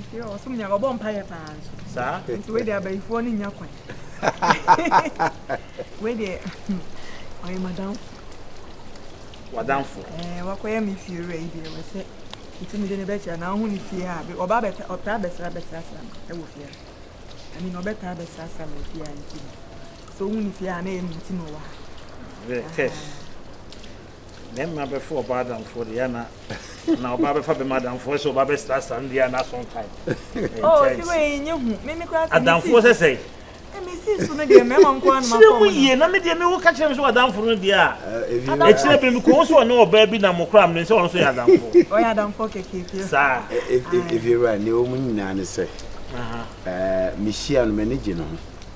nti ɔsom nyame ɔbɔ mpaeɛ paa nso saa nti wei deɛ abayifoɔ no nya kwan wei deɛ ɔyɛ madamfo wadamfo ɛɛ wakɔyɛ me fie wura yi deɛ wɔsɛ nti mede ne bɛkyerɛ na wohu ne fie a ɔba bɛta ɔtaa bɛsra bɛsrasra no ɛwɔ fie a ɛne na ɔbɛtaa bɛsrasra no fie a nti no sɛ wohu ne fie a na ɛyɛ ne nti na ɔwɔ ha Bɛmma bɛfa ɔbaa adamfoɔ deɛ ana na ɔbaa bɛfa bɛmma adamfoɔ sɛ ɔbaa bɛsrasra no deɛ ana so nkae adamfoɔ sɛ sɛe kyerɛ mu yie na medeɛ mewo ka kyerɛ me sɛ wadamfo no deɛ a ɛkyerɛ bere mekɔhu sɛ ɔne ɔbaa bi na mokora mene sɛ ɔno so yɛ adamfoɔ saa ɛfiewura ne ɔmu nyinaa ne sɛ mehyia no m'ani gye no ho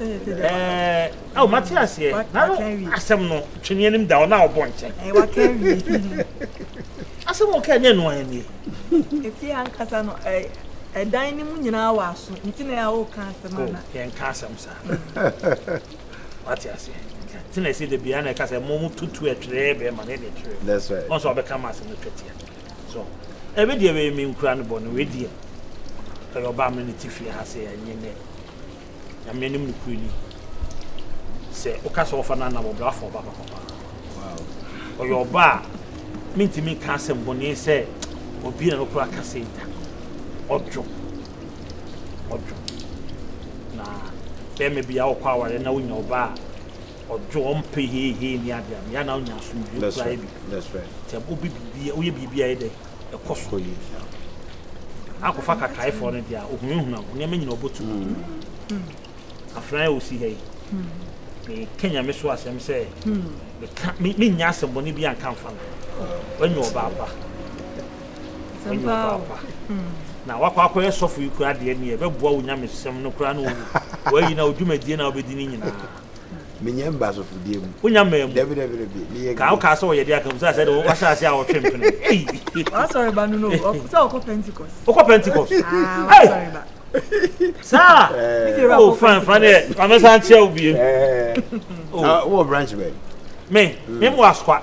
ɛɛ awo mate aseɛ na no asɛm no twene anim da ɔna ɔbɔ nkyɛn asɛm wɔ kaa nyɛ noa ɛnie ɛfie ankasa no ɛdan no mu nyinaa wɔ aso nti na ɛa woka asɛm ana yɛnka asɛm saa wate aseɛ nti na ɛsɛ da biaa na ɛka sɛ mo mu tutu ɛtwerɛ bɛma ne ne twerɛ ɔn sɛ ɔbɛka ma asɛm no twatia So ɛme deɛ wei menkura no bɔne wei deɛ ɛyɛ ɔbaa me ne te fie ha sɛ ɛnyɛ nɛ nyame anim no kuri ni sɛ woka sɛ wɔfa no anam ɔbrɛ afa ɔba papa paa ɔyɛ ɔba a mentumi nka asɛm bɔne sɛ obi na no kora ka sɛ da ɔdwo ɔdwo na bɛrima bi a wokɔ awareɛ na wonya ɔba a Ɔdwo, ɔmpɛ heihei ne ade a, ɛyɛ a na ɔnya asomdwoeɛ koraa yɛ biribi. Sɛ wobɛ biribi, woyɛ biribi a ɛyɛ dɛ, ɛkɔ so. Na akɔfa Kakaefoɔ no deɛ a, ɔhunahuna wo, nneɛma nyina ɔbɔtu mu ɔtumi hu. Afenaa a ɔsi ha yi, meka Nyame so asɛm sɛ, meka, mennya asɛmmɔne bi anka mfa no. Wanya ɔbaa pa. Wanya ɔbaa pa. Na wakɔ akɔyɛ sɔfo yi koraa deɛ neɛ, ɛbɛboa wo nyamesɛm no koraa na wayi na wo dwumadie no a wobɛdi no nyinaa. menyɛ mba asɔfodie mu wonya mmaa mu dabi dabi dabi meyɛ ka wokaa sɛ wɔyɛ de aka mu sɛ sɛ de wahyɛ ase a wɔtwe mpene wasɔre ba no no sɛ ɔkɔ pentecost wokɔ pentecost saa o fan fan deɛ mamɛsan kyerɛ wo bie wɔ branch bɛn me me mo asoa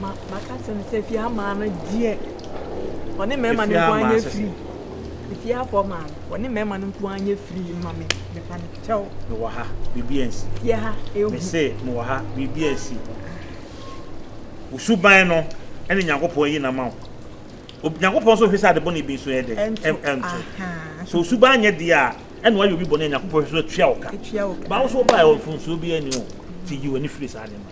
Ma maka kyerɛ no sɛ efie amaa no deɛ ɔne mmarima no nko anyɛ firi. Efie afɔ maa no ɔne mmarima no nko anyɛ firi ma me mefa no kyɛw. Mewɔ ha biribi ansi. Fie ha ehu. Mese mewɔ ha biribi ansi. Wosuban no ɛne Nyankopɔn yi na ma wo. Nyankopɔn nso hwɛ sɛ adebɔne bi nso yɛ dɛ ɛnto. So wosuban nyɛ deɛ a ɛna wayɛ obi bɔne a Nyankopɔn hwɛ so atua wo ka. Baa wo so wobaa mfomsoɔ bi ani o. Ti yi w'ani firi saa nneɛma.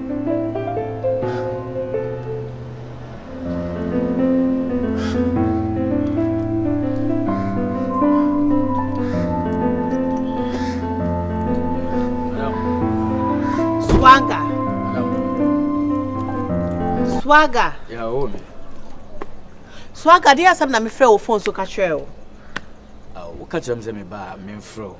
Swagger. Swagger. Yeah, oh me. Swagger, deɛ asɛm na mefrɛ wo phone so ka kyerɛ wo. Wo ka kyerɛ me sɛ me ba me mfrɛ wo.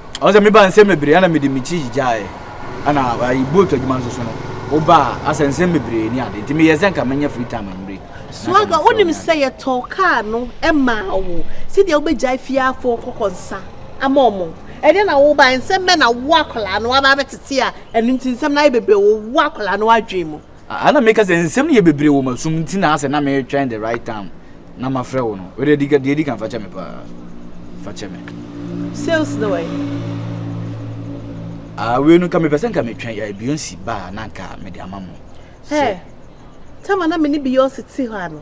Ɔno sɛ mebaa nsɛm bebree ana mede me ti gyigyae ana ayi boat adwuma nso so no wobaa asɛ nsɛm bebree ne ade nti meyɛ sɛ nka manya free time anwummere. Swagga wonim sɛ yɛtɔɔ kaa no maa wo sɛdeɛ wobɛgyae fie afoɔ kɔkɔ nsa ama wɔn ɛnɛ na wobaeɛ nsɛm bɛn na wo akwadaa no aba abɛtete a ɛno nti nsɛm no ayɛ bebree wɔ wo akwadaa no adwene mu. Ah na meka sɛ nsɛm no yɛ bebree wɔ m'asom nti na asɛ na meretwɛn the right time na mafrɛ wo no. Wode deɛ adi kan fakyɛ me paa. Fakyɛ me. Sales no wɛn? Ah wei no nka mepɛ sɛ nka metwɛn eh, Beyonce ba a na nka mede ama mo. Hey, time a na me ne Beyonce te hɔ ano.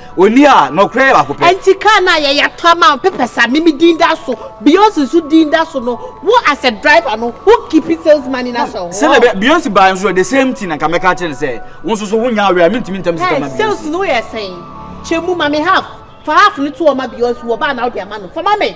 Oni a nɔkorɛ yɛ baako pɛ. Ɛnti car no a yɛyɛ atɔ ama wo papers a mimi din da so, Beyonce nso din da so no, wo as a driver no wo keep sales money no ahyɛ wo ho. Sɛdeɛ ɛbɛyɛ Beyonce baeɛ nso the same thing na nka mɛka akyerɛ no sɛ wo nso so wonya awerɛ a mentumi ntam sika ma Beyonce. Hey sales no yɛ sɛn? Kyɛ mu ma me half, fa half no to hɔ ma Beyonce, wɔ ba a na wode ama no, fa ma me.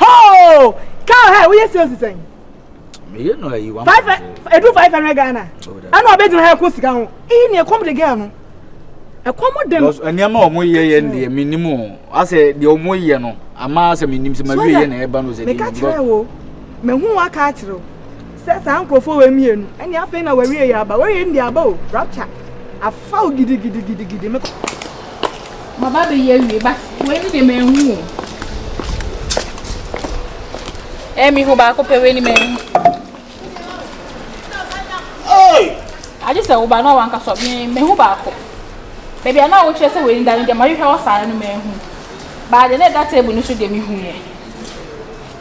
Hoo! Car hire woyɛ sales sɛn? Meyɛ no ayi one point five. Edu five hundred Ghana. Ɛna ɔbɛ gyina ha ɛko sika ho. Eyi ni ɛkɔm de girl no. Ɛkɔm de no. Nneɛma a wɔn yɛ yɛ hmm. deɛ mi nim o. Asɛ deɛ wɔn yɛ no ama asɛ mi nim sɛ ma wie yɛ na ɛba no sɛ deɛ mi nim. Meka kyerɛ wo, mehu waka akyerɛ wo. Sɛ saa nkurɔfoɔ wei mmienu, ɛnneɛ afei na w'awieeɛ aba. W'awieeɛ no deɛ aba o, rapture afa wo gidigidigidigidi. Me. Maba abɛyi awie, but wei no deɛ manhu o. Ɛɛ mehu baako pɛ wei no manhu. Agye sɛ woba na wanka sɔ me mehu baako. Baabi a na wokyerɛ sɛ wei no da no deɛ mahwehwɛ hɔ saa no manhu. Baa deɛ na ɛda table no so deɛ mehu yɛ.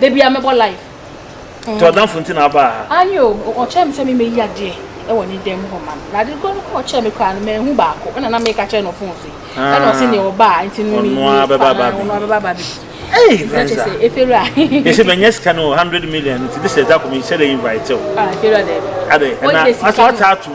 da bia mɛbɔ live nti ɔdamfo nti na aba ha ani o ɔkyerɛ me sɛ memɛyi adeɛ ɛwɔ ne dɛm hɔ ma na ade kɔ no kɔ ɔkyerɛ me koraa no mɛhu baako ɛna na meka kyerɛ no fon so yi ah. ɛna ɔse neɛ ɔbaa nti no ɔnoa bɛba ba bi ɔnoa bɛba ba bi Hey, Vanessa. They say, Menyes can 100 million. This is that coming. Say, they invite you. Ah, Kira, Ade, and I, I saw tattoo.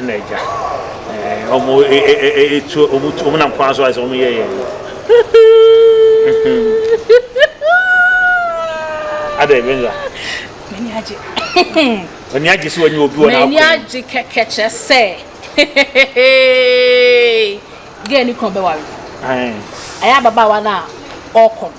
Ɛna agya ɛɛ ɔmo etu ɔmo tu ɔmo nam kwan so ayɛ sɛ ɔmo yɛ yɛn no. Ada Ebenza. M'ani agye. M'ani agye sɛ wɔnyɛ obi wɔ n'akwan. M'ani agye kɛkɛ kyerɛ sɛ gɛɛ ne kunu bɛware. Ɛyɛ ababaawa no a ɔkɔ no.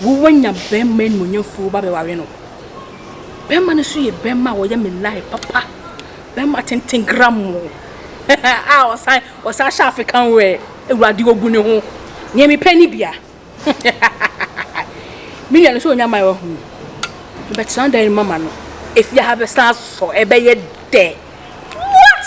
Wo wanya bɛmma animuonyamfoɔ wo ba bɛware no bɛmma no so yɛ bɛmma a wɔyɛ me lai papa bɛmma tenten gramo a ɔsan ɔsan hyɛ african wɛ awurade ogu ne ho nea mepɛ ne bia me nua no sɛ onya ma wahu bɛtena dan mama no efi ha bɛsan asosɔ ɛbɛyɛ dɛ what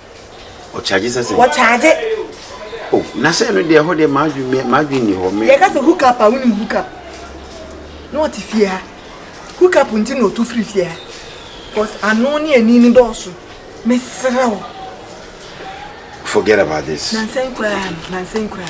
Ɔkyagye sɛ sɛn? Wɔkyagye. O, na sɛ ɛno deɛ ɛhɔ deɛ m'adwene m'adwene nni hɔ. Yɛka sɛ hook up a wonim hook up. Na ɔte fie ha. Hook up nti na ɔtu firi fie ha. Because ano ne ani ne dɔɔso. Mesrɛ wo. Forget about this. Nansan koraa nansan koraa.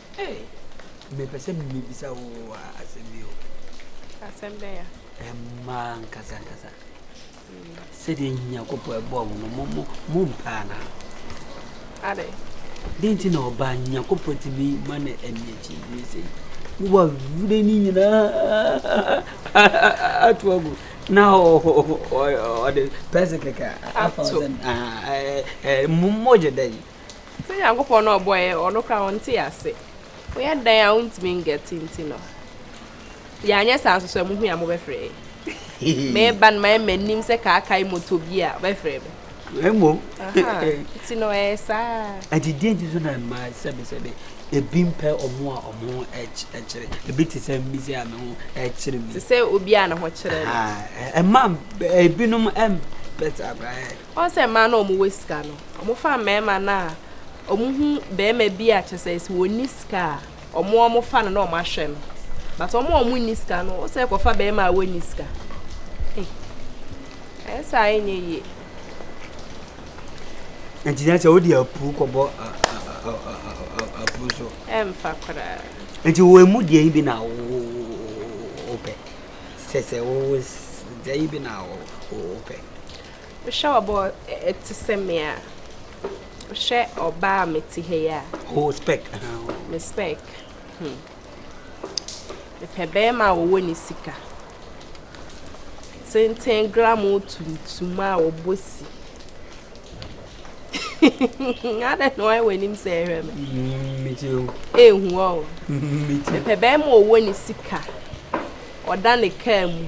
Ei, mepɛ sɛ mibisa wo asɛm bi o. Asɛm bɛn a? Mma ankasankasa. Sɛdeɛ Nyankopɔn bɔɔ mo no, mo mo mpa anaa? Adɛn? Dɛn nti na ɔbaa Nyankopɔn tumi ma no ani akyi wie sɛ yi? Wowɔ wura ni nyinaa ato agu na ɔde pɛse kɛkɛ afa sɛ mmogye dɛ yi. Sɛ Nyankopɔn no a ɔbɔɔ yɛn no, ɔno koraa ɔnte yɛn ase. Moyɛ dɛn a wontumi ngɛte nti no, yɛanyɛ saa nso so a, muhui a mobɛfrɛ yɛn. Meba no mayɛ m'anim sɛ kaakae moto bi a ɔbɛfrɛ me. Mmom. Aha, nti no ɛyɛ saa. Ɛnti deɛ nti so na mmaa sɛbesɛbe ebi mpɛ ɔmo a ɔmo ho ɛkyere ebi te sɛ mmi sɛ a me ho ɛkyere mi. Te sɛ obi a ne ho kyerɛ no. Ɛmaa ebinom ɛmpɛ saa koraa. Ɔn sɛ mmaa no a wɔn wɔ sika no, wɔn fa mmarima no a wɔn hu barima bi a kyɛ sɛ sɛ wɔn ni sika a, wɔn a wɔn fa no na wɔn ahwɛ no. But wɔn a wɔn ni sika no, ɔsɛ kɔ fa barima a wɔn ni sika. Hey, ɛyɛ saa yɛ nyɛ yie. Nti na sɛ wodi apu kɔ bɔ apu so. Ɛnfa koraa. Nti wɔn emu deɛ yi bi na wɔpɛ. Sɛ sɛ wɔn deɛ yi bi na wɔpɛ. Wohwɛ ɔbaa a ɔte sɛ me a. Wohwɛ ɔbaa a mete ha yi a. O spɛk. Me spɛk. Hmm. Mepɛ bɛrima a ɔwɔ ne sika. Tenten gram tuntum a ɔbɔ si. Adɛ na ɔyɛ w'anim sɛ ɛhwɛ me. Mm, Mete o. Ehu ɔ. Mete. Mepɛ bɛrima a ɔwɔ ne sika. Ɔda ne kaa mu.